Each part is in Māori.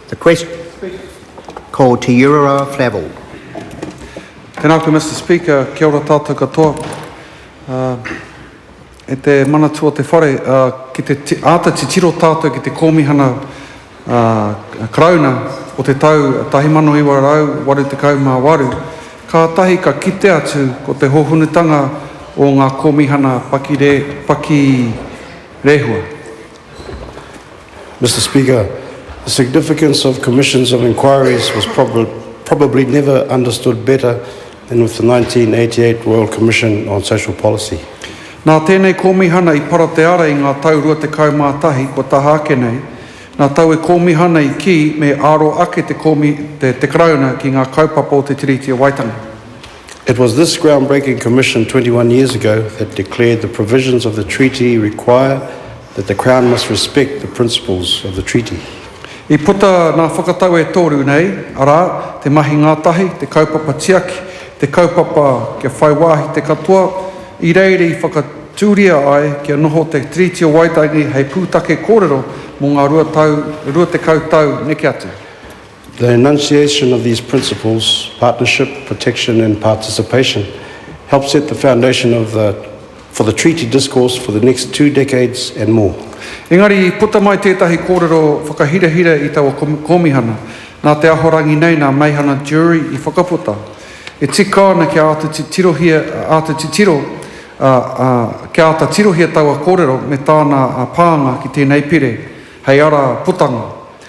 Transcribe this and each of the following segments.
The question. Ko Te Urara Flavell. Tēnā koe Mister Speaker, kia ora tātou katoa. E te Manatū o te Whare, ki te āta titiro tātou ki te Kōmihana Karauna o te tau 1988, kātahi ka kite atu ko te hōhonutanga o ngā Kōmihana Pakirehua. Mister Speaker, the significance of commissions of inquiries was probably never understood better than with the 1988 Royal Commission on Social Policy. Nā tēnei kōmihana i para te ara i ngā tau rua tekau mā tahi kua taha ake nei, nā taue kōmihana i kī me āro ake te Karauna ki ngā kaupapa o te Tiriti o Waitangi. It was this groundbreaking commission twenty one years ago that declared the provisions of the treaty require that the Crown must respect the principles of the treaty. I puta ngā whakatau e toru nei, arā, te mahi ngātahi, te kaupapa tiaki, te kaupapa kia whai wāhi te katoa, i reira i whakatūria ai kia noho te Tiriti o Waitangi hei pūtake kōrero mō ngā rua tekau tau neke atu. The enunciation of these principles, partnership, protection and participation, help set the foundation of the for the Treaty discourse for the next two decades and more. Engari i puta mai tētahi kōrero whakahirahira i taua Kōmihana, nā te Ahorangi nei, nā Meihana Durie i whakaputa. E tika ana kia āta titirohia, āta titiro, ā, ā, kia āta tirohia taua kōrero me tāna pānga ki tēnei pire, hei ara putanga.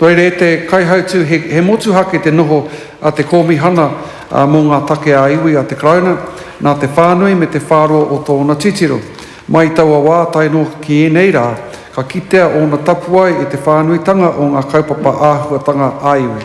Koirā e te Kaihautū he motuhake te noho a te Kōmihana mō ngā Take ā Iwi a te Karauna, nā te whānui me te whāroa o tōna titiro. Mai i taua wā tae noa ki ēnei rā, ka kitea ōna tapuae i te whānuitanga o ngā kaupapa āhuatanga ā iwi.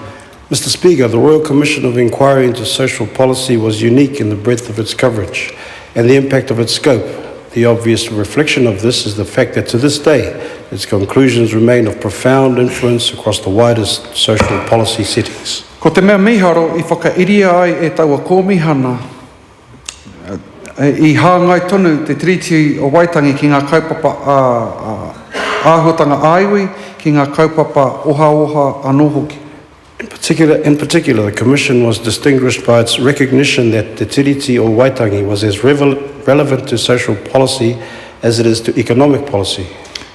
Mister Speaker, the Royal Commission of Inquiry into Social Policy was unique in the breadth of its coverage. And the impact of its scope. The obvious reflection of this is the fact that to this day its conclusions remain of profound influence across the widest social policy settings. Ko te mea mīharo i whakairia ai e taua kōmihana, i hāngai tonu te Tiriti o Waitangi ki ngā kaupapa āhuatanga ā-iwi, ki ngā kaupapa ohaoha anō hoki. In particular, in particular, the Commission was distinguished by its recognition that Te Tiriti o Waitangi was as relevant to social policy as it is to economic policy.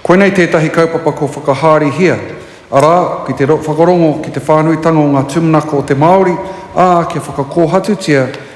Koinei tētahi kaupapa kua whakahārihia, arā, ki te whakarongo ki te whānuitanga o ngā tūmanako o te Māori, ā, kia whakakōhatutia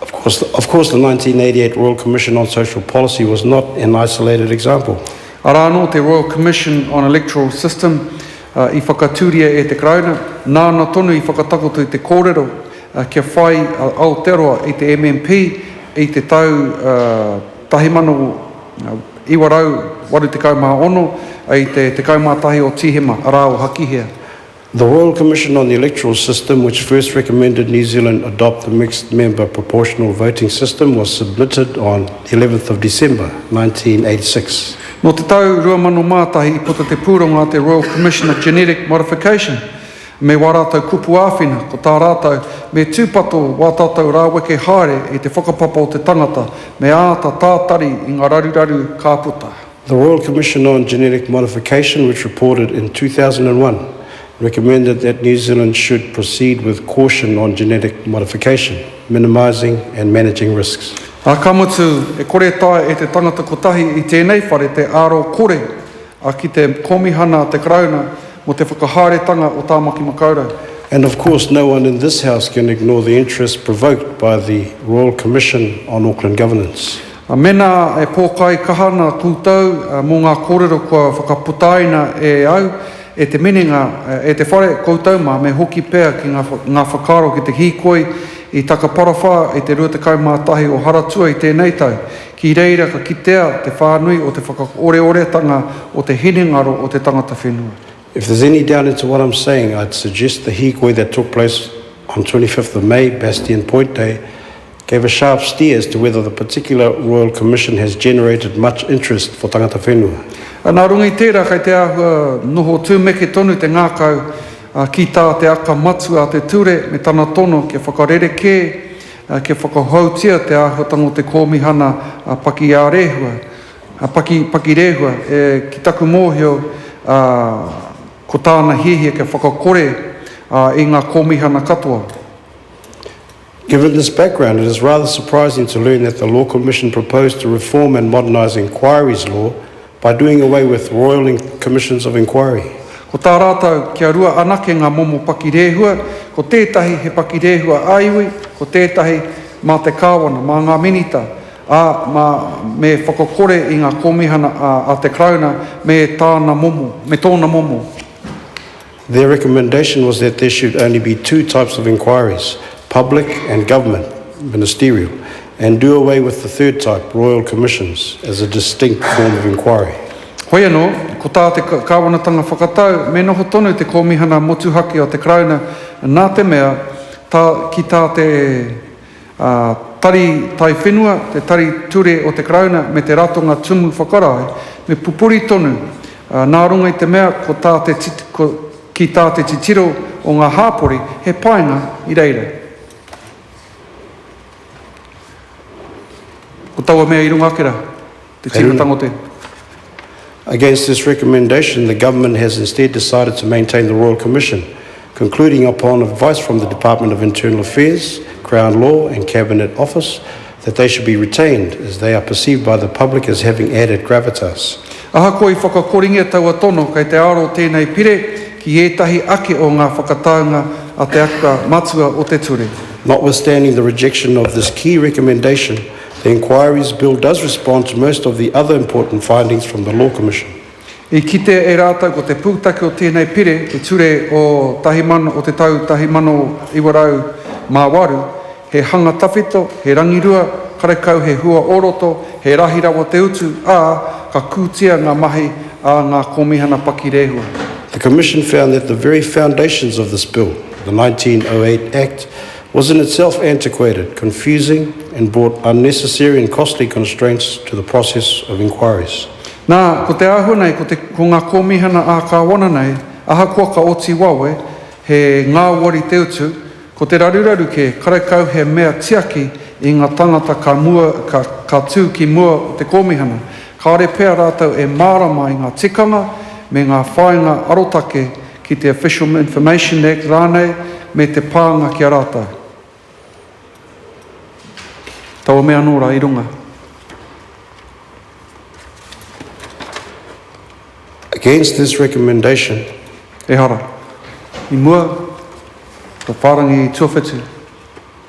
Of course, of course the 1988 Royal Commission on Social Policy was not an isolated example. Arā anō te Royal Commission on Electoral System i whakatūria e te Karauna, nāna tonu i whakatakoto i te kōrero kia whai a Aotearoa i te MMP i te tau 1986, i te 11 o Tīhema, arā o Hakihea. The Royal Commission on the Electoral System, which first recommended New Zealand adopt the mixed member proportional voting system, was submitted on the 11th of December, 1986. Nō te tau 2001 i puta te pūrongo a te Royal Commission of Genetic Modification me wā rātou kupu āwhina, ko tā rātou, me tūpato wā tātou rāweke haere i te whakapapa o te tangata, me āta tātari i ngā raruraru ka puta. The Royal Commission on Genetic Modification which reported in 2001 recommended that New Zealand should proceed with caution on genetic modification, minimising and managing risks. Ā, ka mutu, e kore e taea e te tangata kotahi i tēnei whare te aro kore a ki te Kōmihana a te Karauna mō te whakahaeretanga o Tāmaki Makaurau. And of course no one in this House can ignore the interest provoked by the Royal Commission on Auckland Governance. Mēnā e pōkai kaha ana koutou mō ngā kōrero kua whakaputaina e au, e te minenga, e te whare, koutou mā, me hoki pea ki ngā whakaaro ki te hīkoi i Takaparawhā i te 21 o Haratua i tēnei tau. Ki reira ka kitea te whānui o te whakaoreoretanga o te hinengaro o te tangata whenua. If there's any doubt into what I'm saying, I'd suggest the hīkoi that took place on 25th of May, Bastien Point Day, gave a sharp steer as to whether the particular Royal Commission has generated much interest for tangata whenua. Nā runga i tērā kei te āhua noho tūmeke tonu te ngākau ki tā te aka matua a te ture me tana tono kia whakarerekē, kia whakahoutia te āhuatanga o te Kōmihana Pakiārehua. A Paki, Paki Rehua, e, ki taku mōhio, a, ko tāna hiahia kia whakakore, a, i ngā kōmihana katoa. Given this background, it is rather surprising to learn that the Law Commission proposed to reform and modernise Inquiries Law by doing away with Royal Commissions of Inquiry. Ko tā rātou, kia rua anake ngā momo paki rehua, ko tētahi he paki rehua ā-iwi, ko tētahi mā te Kāwana, mā ngā Minita. ā, mā, me whakakore i ngā kōmihana a, a te Karauna me tāna momo, me tōna momo. Their recommendation was that there should only be two types of inquiries, public and government, ministerial, and do away with the third type, royal commissions, as a distinct form of inquiry. Hoi anō, ko tā te Kāwanatanga whakatau me noho tonu te kōmihana motuhake o te Karauna nā te mea tā, ki tā te, ā, tari taiwhenua, te tari ture o te Karauna me te Ratonga Tumu Whakarae, me pupuri tonu, ā, nā runga i te mea ko tā te ko, ki tā te titiro o ngā hāpori he painga i reira. Ko taua mea i runga ake rā. Te tīmatanga o te. Against this recommendation, the Government has instead decided to maintain the Royal Commission, concluding upon advice from the Department of Internal Affairs, Crown Law and Cabinet Office, that they should be retained, as they are perceived by the public as having added gravitas. Ahakoa i whakakoringia taua tono kei te aro tēnei Pire ki ētahi ake o ngā whakataunga a te Akua Matua o te Ture. Notwithstanding the rejection of this key recommendation, The Inquiries Bill does respond to most of the other important findings from the Law Commission. I kite e rātou ko te pūtake o tēnei pire te ture o tahi man o te tau tahi mano iwa rau mā waru, he hanga tawhito, he rangirua, karekau he hua o roto, he rahi rawa te utu, ā, ka kūtia ngā mahi a ngā Kōmihana Paki Rehua. The Commission found that the very foundations of this Bill, the 1908 Act, was in itself antiquated, confusing and brought unnecessary and costly constraints to the process of inquiries. Nā, ko te āhua nei ko te ko ngā kōmihana ā-kāwana nei, ahakoa ka oti wawe, he ngāwari te utu, ko te raruraru kē, karekau he mea tiaki i ngā tāngata ka mua, ka, ka tū ki mua o te kōmihana, kāore pea rātou e mārama i ngā tikanga me ngā whāinga arotake, ki te Official Information Act rānei me te pānga ki a rātou. Taua mea anō rā i runga. Against this recommendation. Ehara. I mua, ko whārangi tuawhitu.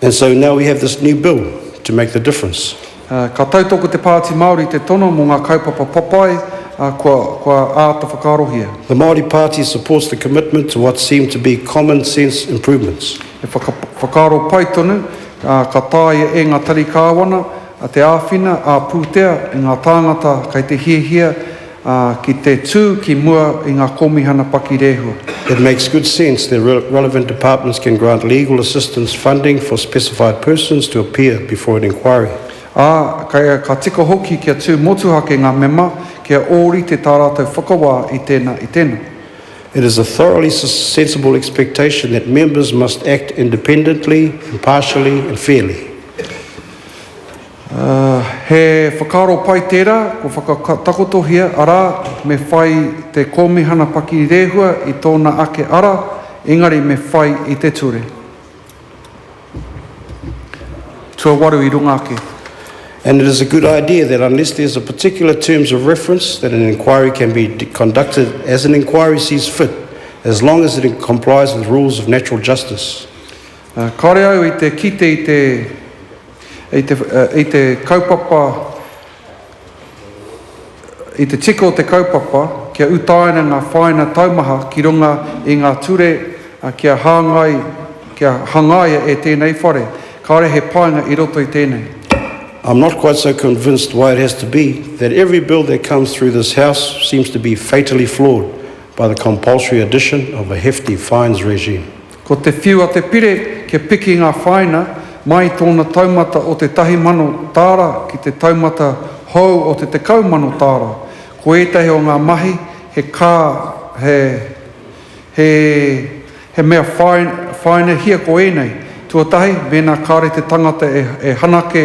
And so now we have this new bill to make the difference. Ā, ka tautoko ko te Pāti Māori i te tono mō ngā kaupapa papai, ā, kua, kua āta whakaarohia. The Māori Party supports the commitment to what seem to be common sense improvements. E whaka, whakaaro pai tonu, ā, ka taea e ngā tari kāwana te āwhina ā-pūtea i ngā tāngata kei te hiahia, ā, ki te tū ki mua i ngā Kōmihana Paki Rehua. It makes good sense the relevant departments can grant legal assistance funding for specified persons to appear before an inquiry. Ā, kei a, ka tika hoki kia tū motuhake ngā mema kia ōrite tā rātou whakawā i tēnā, i tēnā. It is a thoroughly sensible expectation that members must act independently, impartially and fairly. He whakaaro pai tērā kua whakatakotohia, arā, me whai te Kōmihana Pakiri Rehua i tōna ake ara, engari me whai i te ture. Tuawaru i runga ake. And it is a good idea that unless there is a particular terms of reference that an inquiry can be conducted as an inquiry sees fit as long as it complies with rules of natural justice. Kāore au i te kite i te. I te kaupapa, i te tika o te kaupapa kia utaina ngā whāina taumaha ki runga i ngā ture kia hāngai, kia hangaia e tēnei whare, kāore he painga i roto i tēnei. I'm not quite so convinced why it has to be that every bill that comes through this House seems to be fatally flawed by the compulsory addition of a hefty fines regime. Ko te whiu a te pire kia piki ngā whāina mai i tōna taumata o te tahi mano tāra ki te taumata hou o te tekau mano tāra. Ko ētahi o ngā mahi he kā, he, he, he mea whāi, whāinahia ko ēnei. Tuatahi, mēnā kāre te tangata e, e hanake,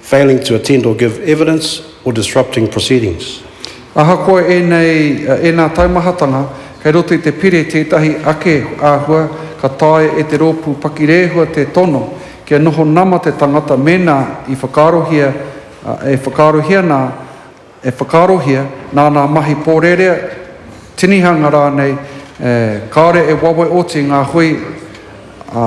failing to attend or give evidence, or disrupting proceedings. Ahakoa ēnei, ēnā taumahatanga, kei roto i te Pire tētahi ake āhua ka taea e te rōpū pakirehua te tono kia noho nama te tangata mēnā i whakaarohia, e whakaarohia nā, e whakaarohia nā nā mahi pōrerea, tinihanga rānei, kāore e wawe oti ngā hui, ā,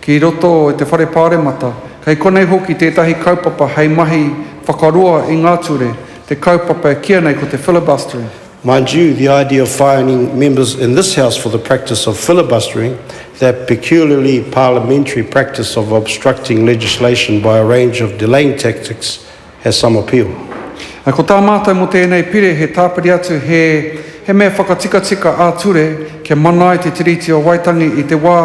Ki roto i te Whare Pāremata, kei konei hoki tētahi kaupapa hei mahi whakaroa i ngā ture, te kaupapa e kīia nei ko te filibustering. Mind you, the idea of fining members in this House for the practice of filibustering, that peculiarly parliamentary practice of obstructing legislation by a range of delaying tactics, has some appeal. Ā, ko tā mātou mō tēnei pire he tāpiri atu, he, he mea whakatikatika ā-ture kia mana ai te Tiriti o Waitangi i te wā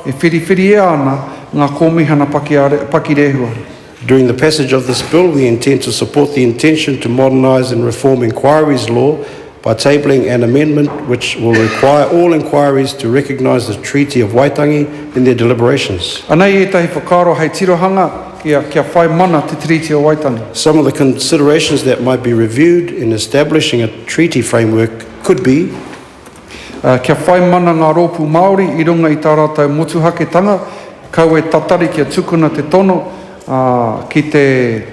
e whiriwhiria ana ngā Kōmihana Pakiare, Pakirehua. During the passage of this Bill, we intend to support the intention to modernise and reform Inquiries Law, By tabling an amendment which will require all inquiries to recognise the Treaty of Waitangi in their deliberations. Anei ētahi whakaaro hei tirohanga ia kia whai mana te Tiriti o Waitangi. Some of the considerations that might be reviewed in establishing a treaty framework could be. Kia whai mana ngā rōpū Māori i runga i tā rātou motuhaketanga, kau e tatari kia tukuna te tono, ā, ki te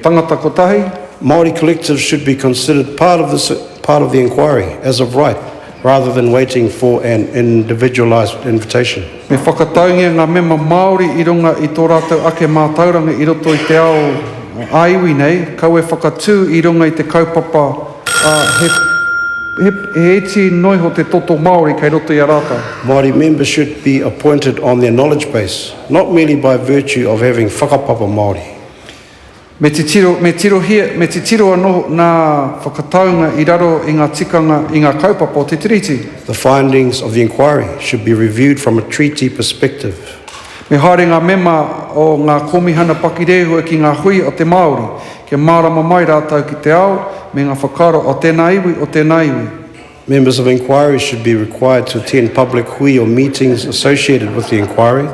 tangata kotahi. Māori collectives should be considered part of this part of the inquiry as of right rather than waiting for an individualised invitation. Me whakataungia ngā mema Māori i runga i tō rātou ake mātauranga i roto i te ao ā-iwi nei, kaua e whakatū i runga i te kaupapa, ā, he, he, he iti noiho te toto Māori kei roto i a rātou. Māori members should be appointed on their knowledge base. Not merely by virtue of having whakapapa Māori. Me titiro, me tirohia, me titiro anō ngā whakataunga i raro i ngā tikanga, i ngā kaupapa o te Tiriti. The findings of the inquiry should be reviewed from a Treaty perspective. Me haere ngā mema o ngā Kōmihana pakirehua ki ngā hui a te Māori, kia mārama mai rātou ki te ao me ngā whakaaro o tēnā iwi, o tēnā iwi. Members of inquiry should be required to attend public hui or meetings associated with the inquiry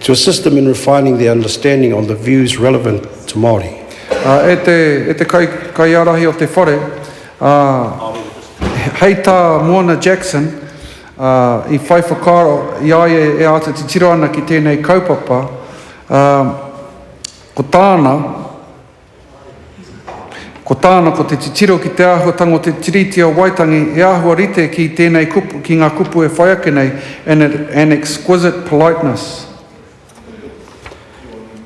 to assist them in refining their understanding on the views relevant to Māori. Ā, e te, e te kai, kaiārahi o te whare, ā, hei tā Moana Jackson, ā, i whai whakaaro, i a ia e āta titiro ana ki tēnei kaupapa, ā, ko tāna, Ko tāna ko te titiro ki te āhuatanga o te Tiriti o Waitangi e āhua rite ki tēnei kupu, ki ngā kupu e whai ake nei, and it an exquisite politeness.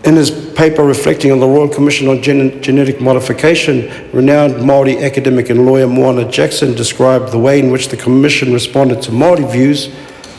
In his paper reflecting on the Royal Commission on Genetic Modification, renowned Māori academic and lawyer Moana Jackson described the way in which the Commission responded to Māori views,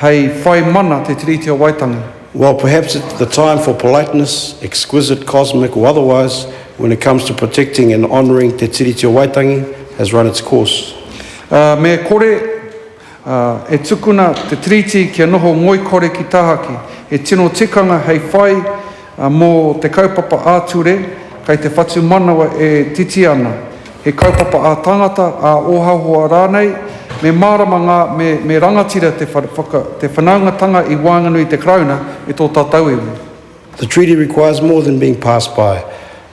hei whai mana te Tiriti o Waitangi. While perhaps it the time for politeness, exquisite, cosmic or otherwise, when it comes to protecting and honouring te Tiriti o Waitangi has run its course. Me kore e tukuna te Tiriti kia noho ngoikore ki tahaki, he tino tikanga hei whai Mō te kaupapa ā-ture, kei te whatumanawa e titi ana, he kaupapa ā-tangata, ā-ohaoha rānei, me mārama ngā, me, me rangatira te whaka, te whanaungatanga i waenganui i te Karauna me tō tātou iwi. The treaty requires more than being passed by.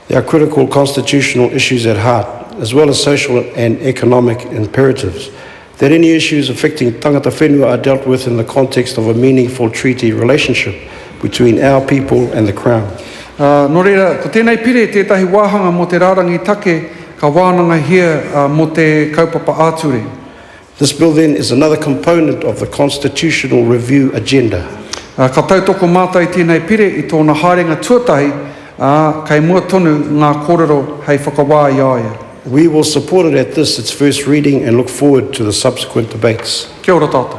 There are critical constitutional issues at heart, as well as social and economic imperatives, that any issues affecting tangata whenua are dealt with in the context of a meaningful treaty relationship between our people and the Crown. Ā, nō reira, ko tēnei pire tētahi wāhanga mō te rārangi take ka wānangahia mō te kaupapa ā-ture. This bill then is another component of the constitutional review agenda. Ā, ka tautoko mātai tēnei pire i tōna haerenga tuatahi, ā, kei mua tonu ngā kōrero hei whakawā i a ia. We will support it at this, its first reading and look forward to the subsequent debates. Kia ora tātou.